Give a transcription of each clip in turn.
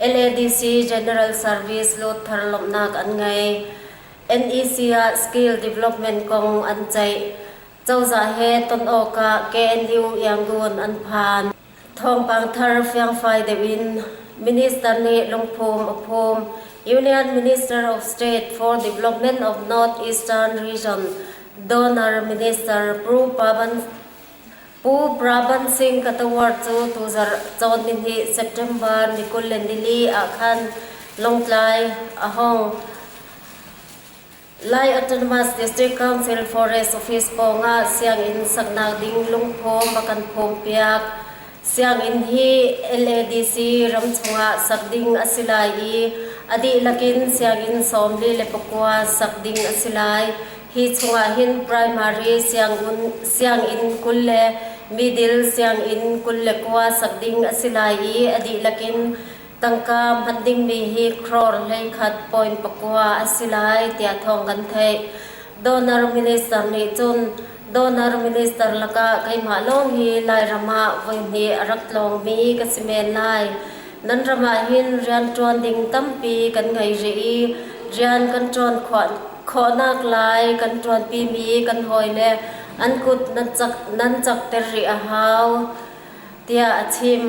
NADC General Service luatter lawmhnak an ngei. NEC ah skill development kong an ceih. Cozah he ton awkah KNU Yangon an phan. Thawngpang thar fiangfai deuh in Minister nih lungphum a phum. Union Minister of State for Development of North Eastern Region Donor Minister Pru Pavan Pu Braban Singh Katawar cu tuzarh cawn nihnih September ni kul le nili ah khan Lawngtlai a hong Lai Autonomous District Council Forest Office pawngah sianginn saknak ding lungphawm a kan phawmpiak. Sianginn hi LADC ram chungah sak ding a si lai i a dihlak in sianginn sawm li le pakua sak ding a si lai. Hi chungah hin primary sianginn kul le middle sianginn kul le kua sak ding a si lai i a dihlak in tangka hman dingmi hi crore hlei khat point pakua a si lai tiah thawng kan theih. Donor minister nih cun donor minister lakah keimah lawng hi Lairam ah voihnih a rak tlawngmi ka si men lai. Nan ram ah hin rianṭuan ding tampi kan ngei rih i rian kan ṭuan khawhnak lai kan ṭuanpimi kan hawile an kut nan cakter rih a hau tiah a chim.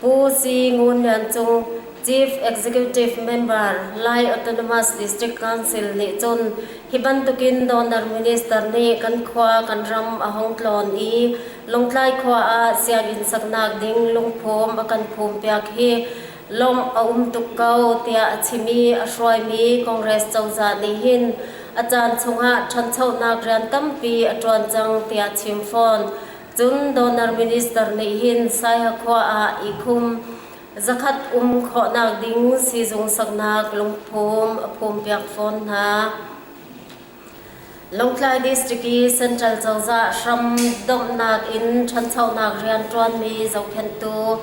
Pu Si Ngun Lian Cung Chief Executive Member Lai Autonomous District Council nih cun hi bantukin Donor Minister nih kan khua kan ram a hong tlawn i Lungtlai khua ah sianginn saknak ding lungphum a kan phumpiak hi lawmh a um tuk ko tiah a chim i a hruaimi Congress cozah nih hin a caan chungah ṭhanchonak rian tampi a ṭuan cang tiah a chim fawn. Cun Donor Minister nih hin Saihakhua ah i khum zakhat um khawhnak ding siizung saknak lungphum a phumpiak fawn hna. Lawngtlai District i Central cozah hram domhnak in ṭhanchonak rian ṭuanmi zohkhenhtu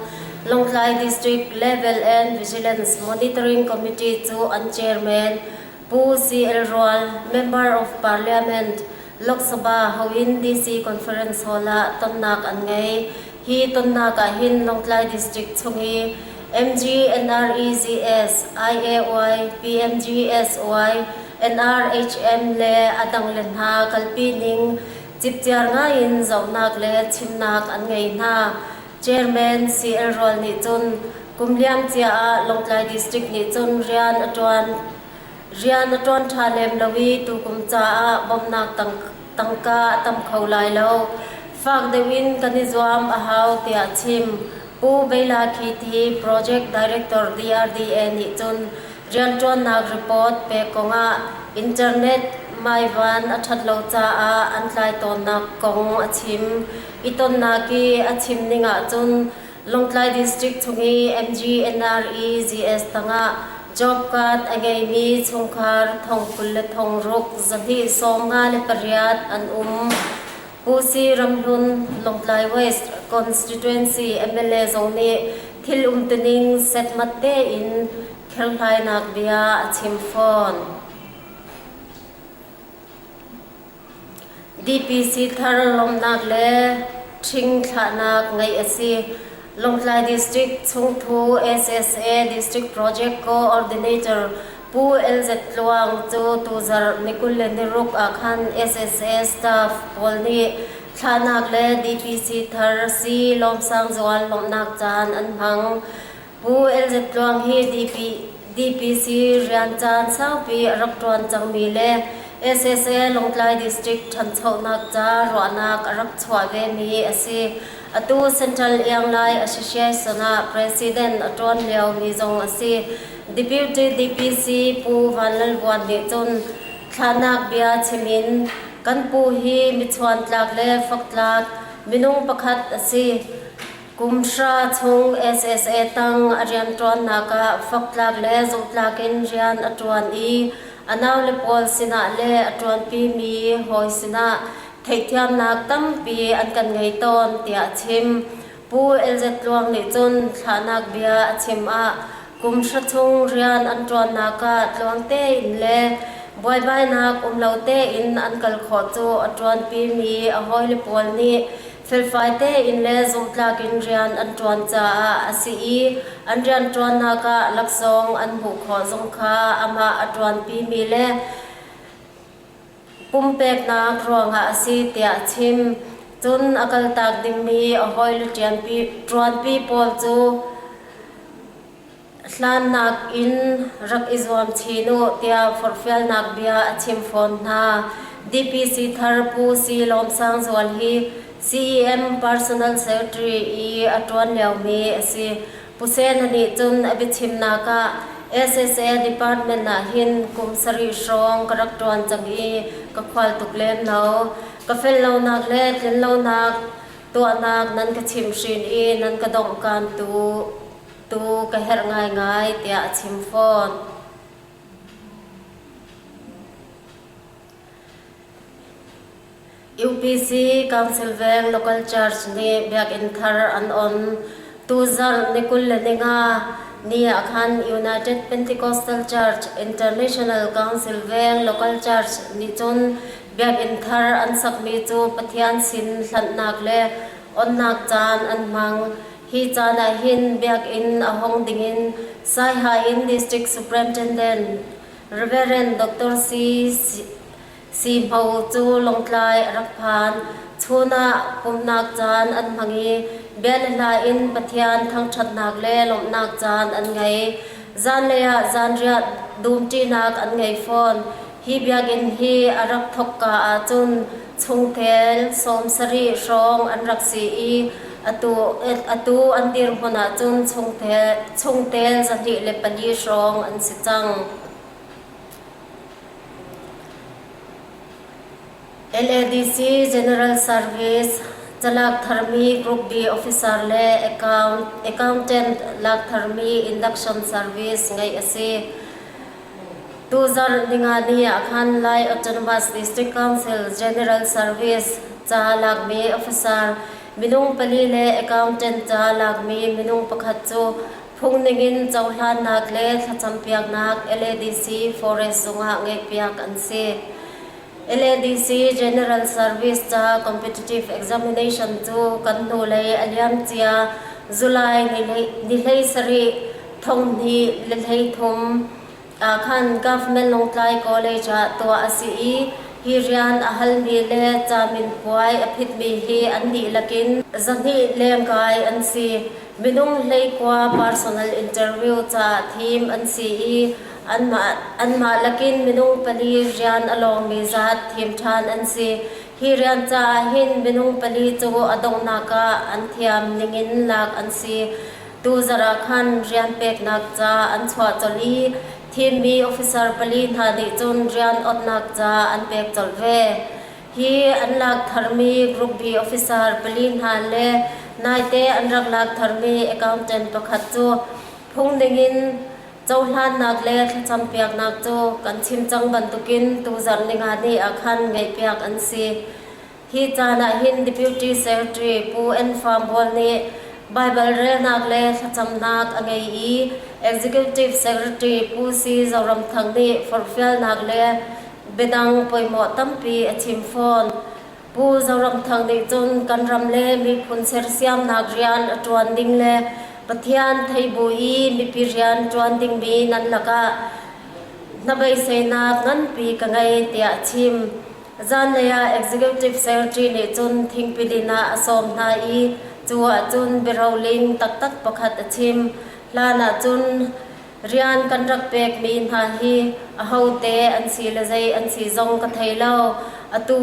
Lawngtlai District Level and Vigilance Monitoring Committee cu an chairman Pu CL Rual, Member of Parliament, Lok Sabha hoin DC Conference Hall ah tonnak an ngei. Hi tonnak ah hin Lawngtlai District chung i MG, NREGS, IAY, PMG, SY, NRHM le a dangle hna kalpi ning cipciar ngai in zohnak le chimnak an ngei hna. Chairman CL Rawl nih cun kum liam cia ah Lawngtlai District nih cun rian a ṭuan rian a ṭuan ṭha lem lo i tukum caah bawmhnak tangka a tam kho lai lo. Fak deuh in kan i zuam a hau tiah a chim. Pu Bela Khiti, Project Director DRDA nih cun Rianṭuannak report pek kongah Internet maivan a ṭhat lo caah an tlai tawnnak kong a chim i tonnak i a chim ning ahcun Lawngtlai District chung i MGNREGS tangah job card a ngeimi chungkhar thong kul le thong ruk zahnih sawm nga le pariat an um. Vusi ramhlun Lawngtlai West Constituency mla zong nih thil umtuning setmat tein kherhlainak bia a chim fawn. DPC thar lawmnak le ṭhing thlahnak ngeih a si. Lawngtlai District chungthu SSA District Project Co-ordinator Pu LZ Tluang cu tuzarh nikul le niruk ah khan SSA staff pawl nih thlahnak le DPC thar si lawmsang zual lawmhnak caan an hmang. Pu LZ Tluang hi DP, DPC rian caan saupi a rak ṭuan cangmi le SSA Lawngtlai District ṭhanchonak ca ruahnak a rak chuah vemi a si. Atu Central Iang Lai Association ah President a ṭuan liomi zong a si. Deputy DPC Pu Van Lal Vuan nih cun thlahnak bia chim in kan pu hi michuantlak le faktlak minung pakhat a si. Kumhra chung SSA tang a rianṭuannak ah faktlak le zumhtlak in rian a ṭuan i a naule pawl sinah le a ṭuanpimi hawi sinah theihthiamnak tampi an kan ngei tawn tiah a chim. Pu Elzet Tluang nih cun thlahnak bia a chim ah kum hra chung rian an ṭuannak ah tluang tein le buaibainak um lo tein an kal khawh cu a ṭuanpimi a hawile pawl nih felfai tein le zumhtlak in rian an ṭuan caah a si i an rianṭuannak ah laksawng an hmuh khawh zong kha amah a ṭuanpimi le pumpeknak ruangah a si tiah a chim. Cun a kaltak dingmi a hawile ṭuanpi pawl cu hlannak in rak i zuam chin u tiah forhfialnak bia a chim fawn hna. DPC thar Pu Si Lawm Sang Zual hi CEM Personal Secretary i a ṭuan liomi a si. Hussein-a nih cun a biachimnak ah SSA department ah hin kum sarih hrawng ka rak ṭuan cang i ka khual tuk len lo. Ka fel lonak le tlin lonak tuahnak nan ka chimhhrin i nan ka donghkan tu tu ka herh ngaingai tiah a chim fawn. UPC Council Veng Local Church nih Biakinn thar an on. Tuzarh ni kul le ni nga ni ah khan United Pentecostal Church International Council Veng Local Church nih cun Biakinn thar an sakmi cu Pathian sin hlanhnak le onnak caan an hmang. Hi caan ah hin Biakinn a hong ding in Saiha in District Superintendent Reverend Dr. C. Sihmo cu Lawngtlai a rak phan. Chun ah pumhnak caan an hmang i bia le hla in Pathian thangṭhatnak le lawmhnak caan an ngei. Zanlei ah zanriah dumṭinak an ngei fawn. Hi biakinn hi a rak thawkka ahcun chungtel sawm sarih hrawng an rak si i atu, atu an dirhmun ahcun chungtel, chungtel zahnih le pali hrawng an si cang. LADC General Service calak tharmi Group B officer le accountant lak tharmi induction service ngeih a si. Tu zarh ningani ahkhan Lai Autonomous District Council General Service ca lakmi officer minung pali le accountant ca lakmi minung pakhat cu Phung ningin cohlannak le thlacampiaknak LADC Forest zungah ngeihpiak an si. LADC General Service ca Competitive Examination cu kan hnulei a liamcia July ni hlei sarih thonghni le hlei thum Ahkhan government Lawngtlai College ah tuah a si i hi rian a halmi le camin puai a phitmi hi an dihlak in zahnih lengkai an si. Minung hleikua personal interview caah thim an si i anmah anmah lakin minung pali rian a lawngmi zat thim ṭhan an si. Hi rian caah hin minung pali cu a donghnak ah an thiam ningin lak an si. Tuzarh ah khan rian peknak ca an chuah colh i thimmi officer pali hna nih cun rian awtnak ca an pek colh ve. Hi an lak tharmi Group B officer pali hna le naite an rak lak tharmi accountant pakhat cu phungning in cohlannak le thlacam piaknak cu kan chim cang bantukin tuzarh ningani ah khan ngaihpiak an si. Hi caan ah hin Deputy Secretary Pu Ann Farnbual nih Baibal relnak le thlacamnak a ngei i Executive Secretary Pu Si Zoram Thang nih forhfialnak le biadang poimawh tampi a chim fawn. Pu Zoram Thang nih cun kan ram le miphun sersiamnak rian a ṭuan ding le Pathian thei bu i mipi rian ṭuan dingmi nan lakah hnabeiseinak nganpi ka ngei tiah a chim. Zanlei ah Executive Secretary nih cun thingpidin ah a sawm hna i cu ah cun biaroling taktak pakhat a chim. Hlan ah cun rian kan rak pekmi hna hi ahote an si le zei an si zong ka thei lo. Atu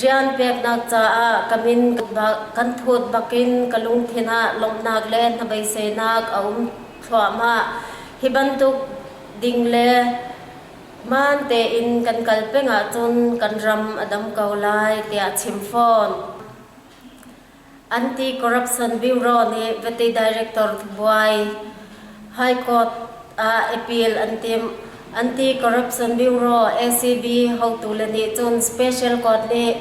rian peknak caah ka min kan thut bakin ka lungthin ah lawmhnak le hnabeiseinak a um thluahmah. Hi bantuk ding le Man tein kan kal peng ahcun kan ram a dam ko lai tiah a chim fawn. Anti-corruption bureau nih vati director buai High Court ah appeal an tim. Anti-corruption bureau ACB hotu le nih cun special court nih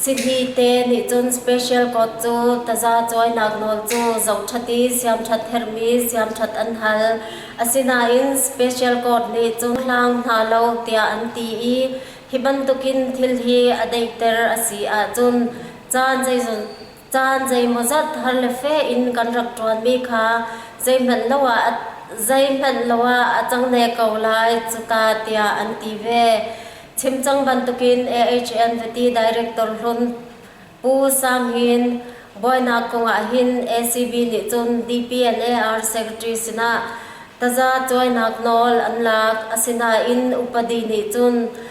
Sihi te nih cun special code cu taza cuainak nawl cu zoṭhat i siamṭhat herhmi siamṭhat an hal. Asinain special code nih cun hlang hna lo tiah an ti i hi bantukin thil hi a daihter a si ahcun caan zeizat Caan zeimawzat har le fe in kan rak ṭuanmi kha zeihmanh lo ah zeihmanh lo ah a cang ne ko lai cuka tiah an ti ve. Chimcang bantukin AHN vati director hlun Pu Sang Hin buainak kong ahhin ACB nih cun DPNAR secretary sinah taza cuainak nawl an lak. Asinain upadi nih cun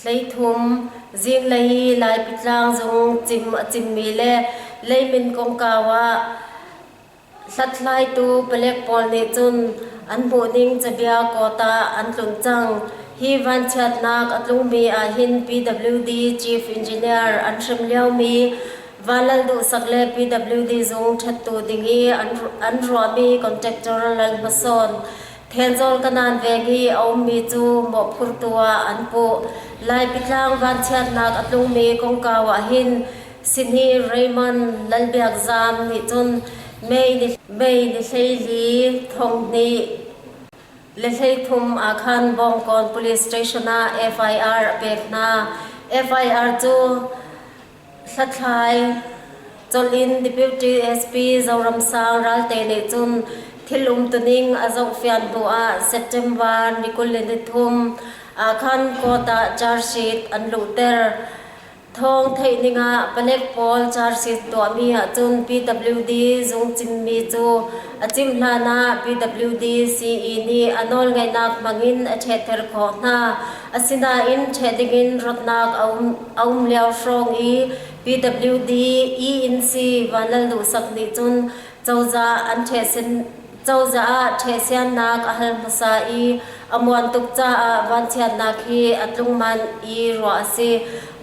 Hleithum, zinglei i Laipi tlang zung cim a cimmi le leimin kongkau ah hlathlaitu palek pawl nih cun an hmuhning cabia kawta an tlun cang. Hi vanchiatnak a tlungmi ahhin PWD Chief Engineer an hrem liomi Van Lal Duhsak le PWD zung ṭhattu ding i an ruahmi contractor Lal Hma Sawn Thenzawl kanan veng i a ummi cu mawhphurtu ah an puh. Laipitlang vanchiatnak a tlungmi kongkau ah hin Sihni Raymond Lalbiakzam nih cun May ni, May ni hleili thonghnih le hleithum ah khan Bawngkawn Police Station ah FIR a pek hna. FIR cu Hlathlai colh in Deputy SP Zoramsang Ralte nih cun thil umtuning a zohfian hnu ah September ni kul le nithum ahkhan court ah charge-sheet an luhter. Thawng theih ning ah Panek pawl charge-sheet tuahmi ahcun PWD zung cimmi cu a cimh hlan ah PWD CE nih a nawlngeihnak hmang in a ṭhehter khawh hna. Asinain ṭheh dingin rawtnak a um lio hrawng i PWD E-inn si Van Lal Duhsak nih cun cozah ah ṭhehsiannak a hal hmasa i a muan tuk caah vanchiatnak hi a tlungman i ruah a si.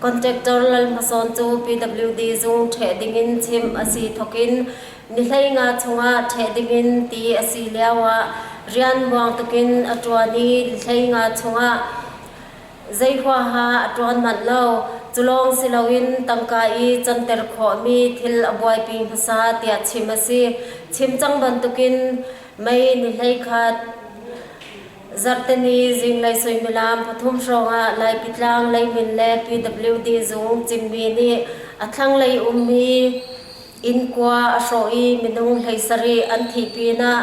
Contractor Lal Hma Sawn cu PWD zung ṭheh dingin chim a si thokin Nihlei nga chungah ṭheh dingin ti a si lioah rianbuang tukin a ṭuan i hlei nga chungah zei huaha a ṭuan manh lo. Cu lawng si loin tangka i canter khawhmi thil a buaipi hmasa tiah chim a si. Chim cang bantukin mei nihlei khat Zarhteni zinglei suimilam pathum hrawngah Laipitlang leimin le PWD zung cimmi nih a thlanglei ummi Innkua a hrawh i minung hleisarih an thih pinah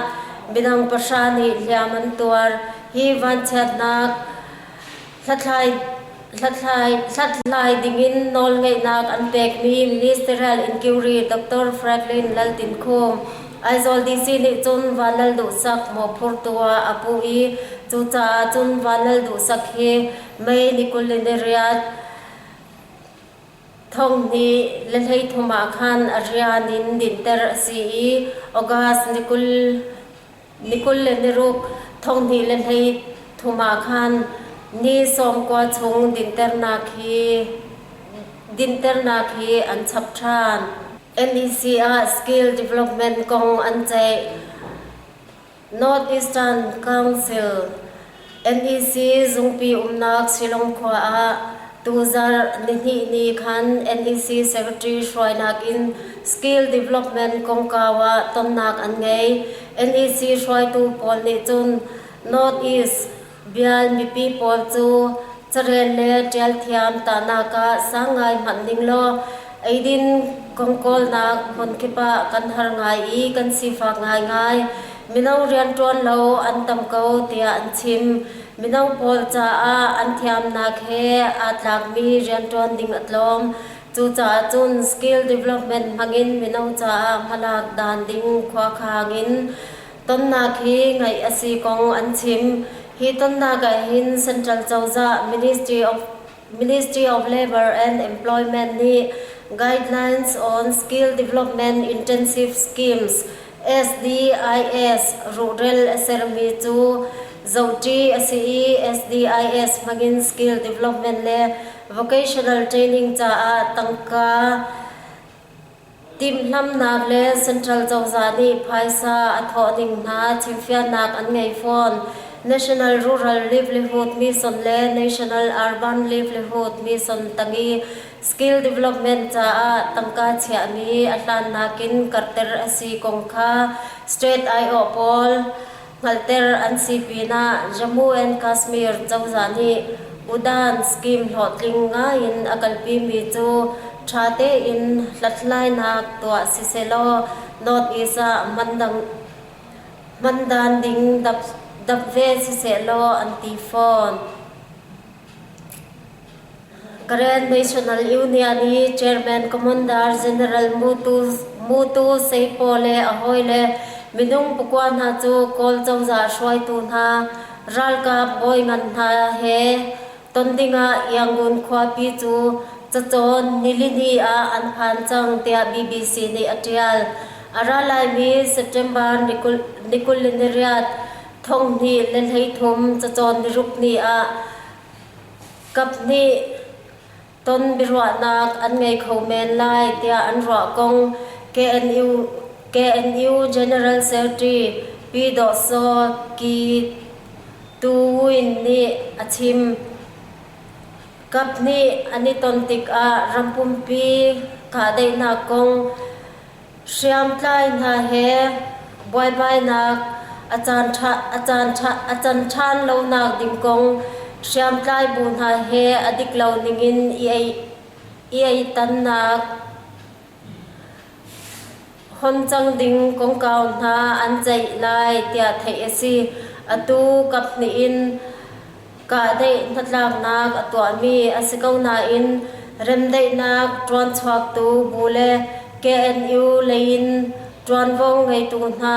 minung pahra nih hliam an tuar. Hi vanchiatnak hlathlai dingin nawlngeihnak an pekmi ministerial inquiry Dr. Franklin Laltinkhum Aizawl DC nih cun Vanlalduhsak mawhphurtu ah a puh i cucaah cun Vanlalduhsak hi May ni kul in ni riat Thong hi le hleithum ah khan a rian in dinhter a si i August ni kul, ni kul le ni ruk, thong hnih le hleithum ah khan ni sawm kua chung dinhternak hi dinhternak hi an chap ṭhan. NEC ah skill development kong an ceih. North Eastern Council, NEC, zungpi umnak Shillong khua ah tuzarh nihnih ni khan NEC Secretary hruainak in Skill Development kongkau ah tonnak an ngei. NEC hruaitu pawl nih cun North East Bial mipi pawl cu carel le ṭial thiam tahnak ah sang ngai hmanh ding law eidin kongkawlnak hmunkip ah kan har ngai i kan sifak ngaingai. Mino rianṭuan lo an tam ko tiah an chim. Mino pawl caah an thiamnak he aa tlakmi rianṭuan ding a tlawm. Cucaah cun skill development hmangin mino caah hmalak dan ding khua khang in Tonnak hi ngaih a si kong an chim. Hi tonnak ahhin Central Cozah Ministry of Ministry of Labour and Employment nih Guidelines on Skill Development Intensive Schemes SDIS ruhrel a sermi cu zohṭi a si i SDIS hmangin skill development le vocational training caah tangka Timhlamhnak le Central cozah nih phaisa a thawh ding hna chimfialnak an ngei fawn. National Rural Livelihood Mission le National Urban Livelihood Mission tanghi skill development caah tangka chiahmi a hlan nakin karhter a si kong kha State aiawh pawl Hngalhter an si pinah Jammu and Kashmir cozah nih Udan scheme hlawhtling ngai in a kalpimi cu tha tein hlathlainak tuah sisehlaw North East ah hman dan ding dap ve sisehlaw an ti fawn. Grand National Union hi Chairman Commander General Mutuseipo le a hawile minung pakua hna cu Kawl cozah hruaitu hna ralkap bawi ngan hna he ton dingah Yangon khuapi cu cacawn nilini ah an phan cang tiah BBC nih a ṭial. A ra laimi September ni kul ni riat Thong hnih le hleithum cacawn niruk ni ah kap hnih ton biaruahnak an ngei kho men lai tiah an ruah kong KNU, KNU General Secretary Pi Daw Saw Kyi Tu Win nih a chim. Kap hnih an i ton tikah ram pumpi kahdaihnak kong Hriamtlai hna he buaibainak a can ṭhan lonak ding kong hriamtlai bu hna he a dik lo ningin i aitannak hon cang ding kongkau hna an ceih lai tiah theih a si. Atu kap hnih in Kahdeih hnatlaknak a tuahmi a si ko nain remdaihnak ṭuanchuaktu bu le KNU lei in ṭuanvo ngeitu hna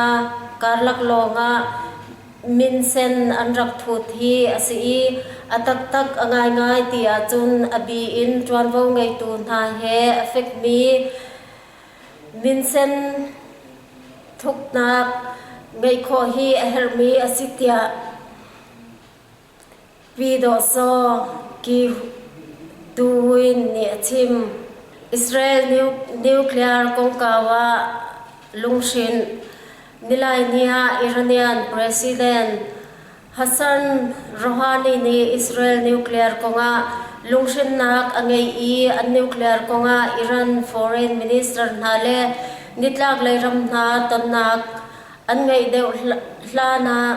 karlak lawngah minsen an rak thut hi a si i a taktak a ngaingai ti ahcun a bi in ṭuanvo ngeitu hna he a fekmi minsen thuknak ngeih khawh hi a herhmi a si tiah Vidawhsaw Gihduin nih a chim, Israel nuclear kongkau ah lunghrinh, Nilaini ah Iranian President Hassan Rouhani nih Israel nuclear kongah lunghrinnak a ngei i an nuclear kongah Iran foreign minister hna le nitlaklei ram hna tonnak An ngeih deuh hlan ah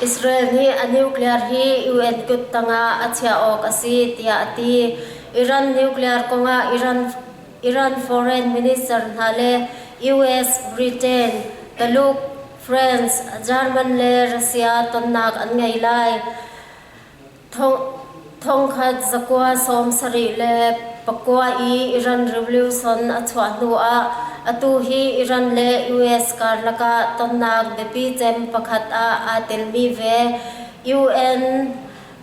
Israel nih a nuclear hi US kut tangah a chiah awk a si tiah a ti. Iran nuclear kongah Iran Iran foreign minister hna le US, Britain, Taluk, France, German le Russia tonnak an ngei lai. Thongkhat zakua sawm sarih le pakua i Iran Revolution a chuah hnuah atu hi Iran le US karlak ah tonnak biapi cem pakhat ah aa telmi ve UN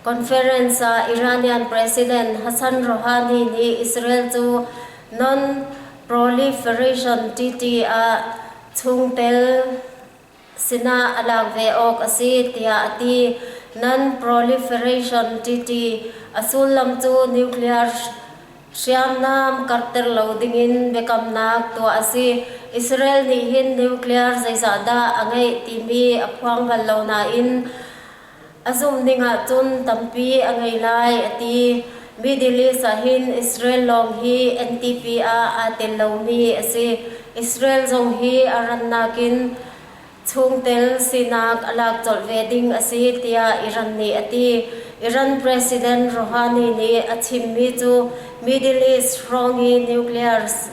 conference ah Iranian President Hassan Rouhani nih Israel cu non-proliferation treaty ah chungtel sinah a lak ve awk a si tiah a ti. Non-proliferation TT a sullam cu nuclear hriamnam karhter lo dingin biakamnak tuah a si. Israel nih hin nuclear zeizah dah a ngeih timi a phuang bal lo nain A zumh dingah cun tampi a ngei lai a ti. Middle East ahhin Israel lawng hi NTP ah aa tel lomi a si. Israel zong hi a rannak in chungtel sinak a lak colh ve ding a si tiah Iran nih a ti. Iran President Rouhani nih a chimmi cu Middle East hrawng i nuclear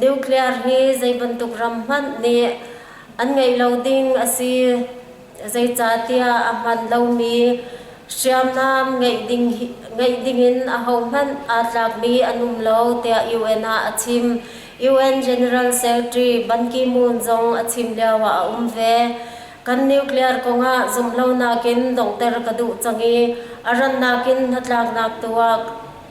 nuclear hi zei bantuk ram hmanh nih an ngeih lo ding a si zeicahtiah a hman lomi hriamnam ngeih ding ngeih dingin ahohmanh aa tlakmi an um lo tiah UN ah a chim UN General Secretary Ban Ki-moon zong a chim lio ah a um ve kan nuclear kongah zumhlonak in donghter ka duh cang i a rannak in hnatlaknak tu ah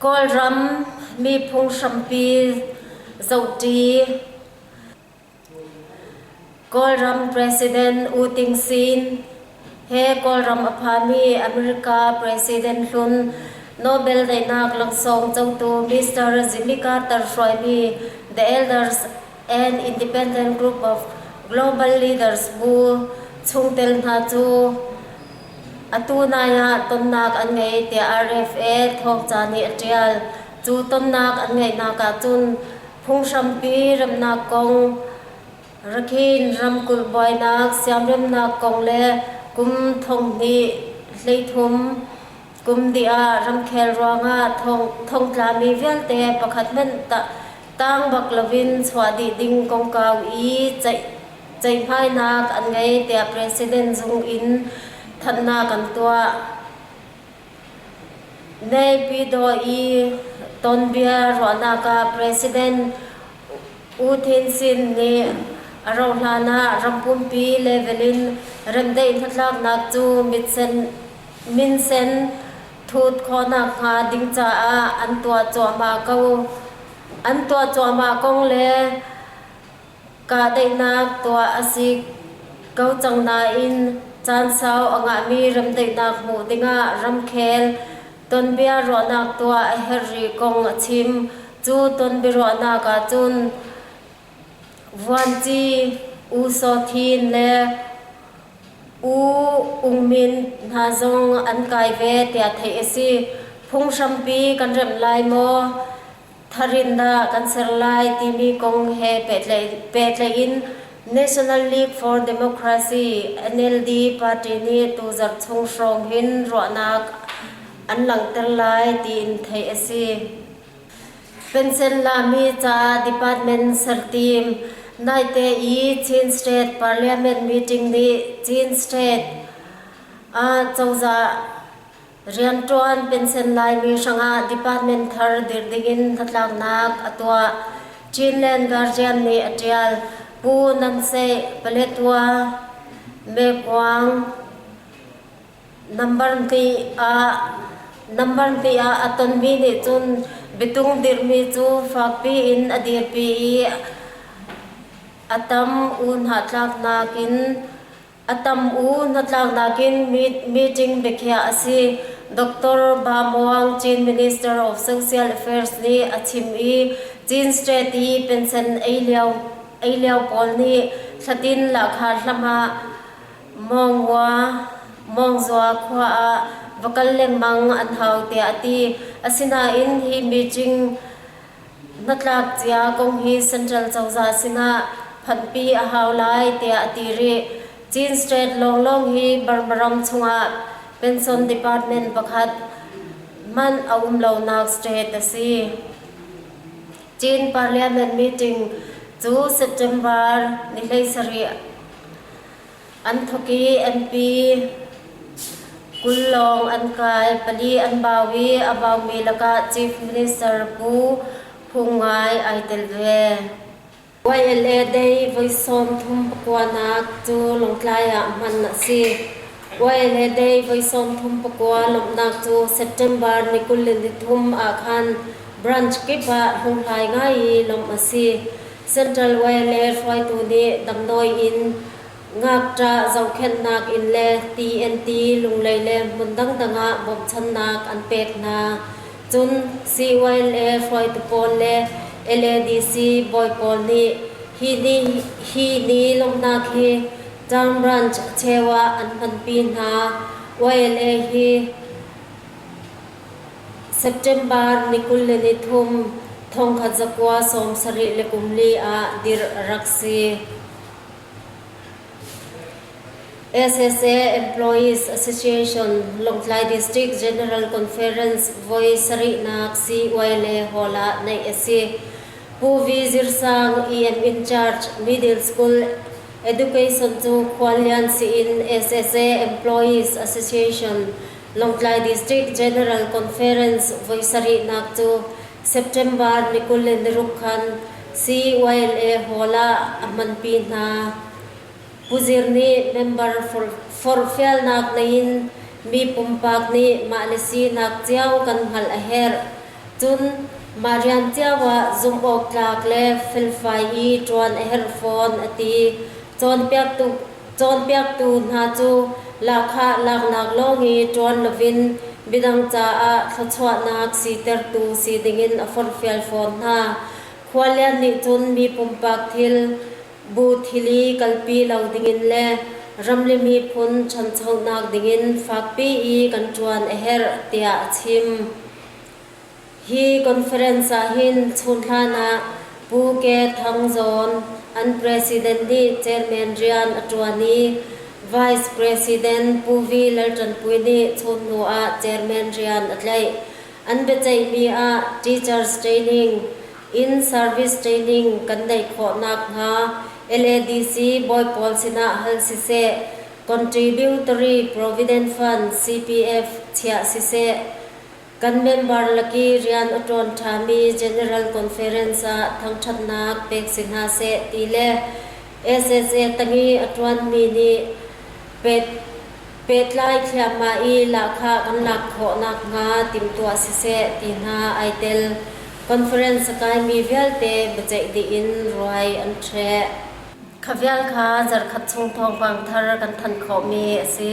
Kawlram miphung hrampi zohṭi Kawlram President U Ting Sin he Kawlram a phami America President hlun Nobel daihnak laksawng cotu Mr. Jimika Tar hruaimi The Elders and Independent Group of Global Leaders bu chungtel hna cu atu nai ah tonnak an ngei tiah RFA thawngca nih a ṭial. Cu tonnak an ngeihnak ahcun phunghrampi remnak kong, Rakhine ramkulh buainak siamremnak kong le kum thonghnih hleithum Kumdih ah ramkhel ruangah thongtlami vialte pakhat hmanh tang bak loin chuah dih ding kongkau i ceihmainak an ngei tiah President Zung in thanhnak an tuah. Naypyidaw i tonbia ruahnak ah President U Thein Shin nih a rauhhlan ah ram pumpi level in remdaih hnatlaknak cu mitsen minsen thut khawnak hnga ding caah an tuah cuahmah ko. An tuah cuahmah kong le kahdaihnak tuah a si ko cang nain caan sau a ngahmi remdaihnak hmuh dingah ramkhel tonbia ruahnak tuah a herh rih kong a chim. Cu tonbiaruahnak ahcun Vuanci U Saw Htin le U Ung Min hna zong an kai ve tiah theih a si. Phunghrampi kan remh lai maw? Tharin dah kan ser lai timi kong he pehtlaih in National League for Democracy NLD party nih tuzarh chung hrawng hin ruahnak an langhter lai tiin theih a si. Pensenlami ca department sertim naite i Chin State Parliament meeting nih Chin State ah cozah rianṭuan pensen Laimi hrangah department thar dirh dingin hnatlaknak a tuah. Chinland Guardian nih a ṭial. Pu Nan Seih, Paletwa, Mekwaung, Nambar ngei ah a tonmi nih cun biatung dirhmi cu fakpi in a dirpi i a tam u hnatlak nakin meeting biakhiah a si. Doctor Ba Muang, Chin Minister of Social Affairs nih a chim i Chin State i pension ei lio pawl nih thlatin lahkhar hlam ah Mawngua Mawngzua khua ah va kal lengmang an hau tiah a ti. Asinain hi meeting hnatlak cia kong hi Central cozah sinah phanhpi a hau lai tiah a ti rih. Chin State lawnglawng hi Burma ram chungah pension department pakhat man a um lonak state a si. Chin Parliament meeting cu September ni hlei sarih An thawki MP kul lawng an kai. Pali an bau i a baumi lakah Chief Minister Pu Phung Ngai ai tel ve. YLA Day voi sawm thum pakuanak cu Lawngtlai ah hman a si. YLA Day voi sawm thum pakua lawmhnak cu September ni kul le ni thum ah khan branch kip ah hlunghlai ngai i lawmh a si. Central Way le hruaitu nih damdawi in, ngakṭah zohkhenhnak inn le TNT lunglei le hmun dangdang ah bawmhchannak an pek hna. Cun Siiwail le hruaitu pawl le LADC bawi pawl nih hi ni lawmhnak hi Town Branch cheu ah an hmanpi hna. Way le hi. September ni kul le ni thum thongkhat zakua sawm sarih le kum li ah dirh a rak si. SSA Employees Association Lawngtlai District General Conference voi sarihnak CY le hall ah naih a si. Pu V Zirsang EM in charge Middle School Education cu Khuallian si in SSA Employees Association Lawngtlai District General Conference voi sarihnak cu September ni kul le niruk khan CYLA Hall ah a hmanpi hna. Pu Zir nih member forhfialnak lei in mi pumpak nih mah le sinak cio kan hngalh a herh. Cun mah rian cio ah zumhawktlak le felfai i ṭuan a herh fawn a ti. Cawnpiaktu Cawnpiaktu hna cu lahkhah laknak lawng i ṭuan lovin midang caah thluachuahnak sitertu si dingin a forhfial fawn hna. Khualian nih cun mi pumpak thil, bu thil i kalpi lo dingin le ramri miphun ṭhanchonak dingin fakpi i kan ṭuan a herh tiah a chim. Hi conference ahhin chunhlan ah Pu Ke Thang Zawn an President nih Chairman rian a ṭuan i Vice President Pu Vi Lalṭanpui nih chun hnu ah Chairman rian a tlaih. An biaceihmi ah Teachers Training, Inn Service Training kan neih khawh nakhnga LADC bawi pawl sinah hal siseh, Contributory Provident Fund CPF chiah siseh, Kan member lak i rian a ṭuan ṭhami General Conference ah thangṭhatnak pek si hna seh ti le SSA tangi a ṭuanmi nih pehtlai thliahmah i lahkhah kan lak khawh nakhnga timhtuah siseh ti hna ai tel. Conference a kaimi vialte biaceih dih in ruai an ṭheh. Kha vial kha zarkhat chung thawngpang thar kan thanh khawhmi a si.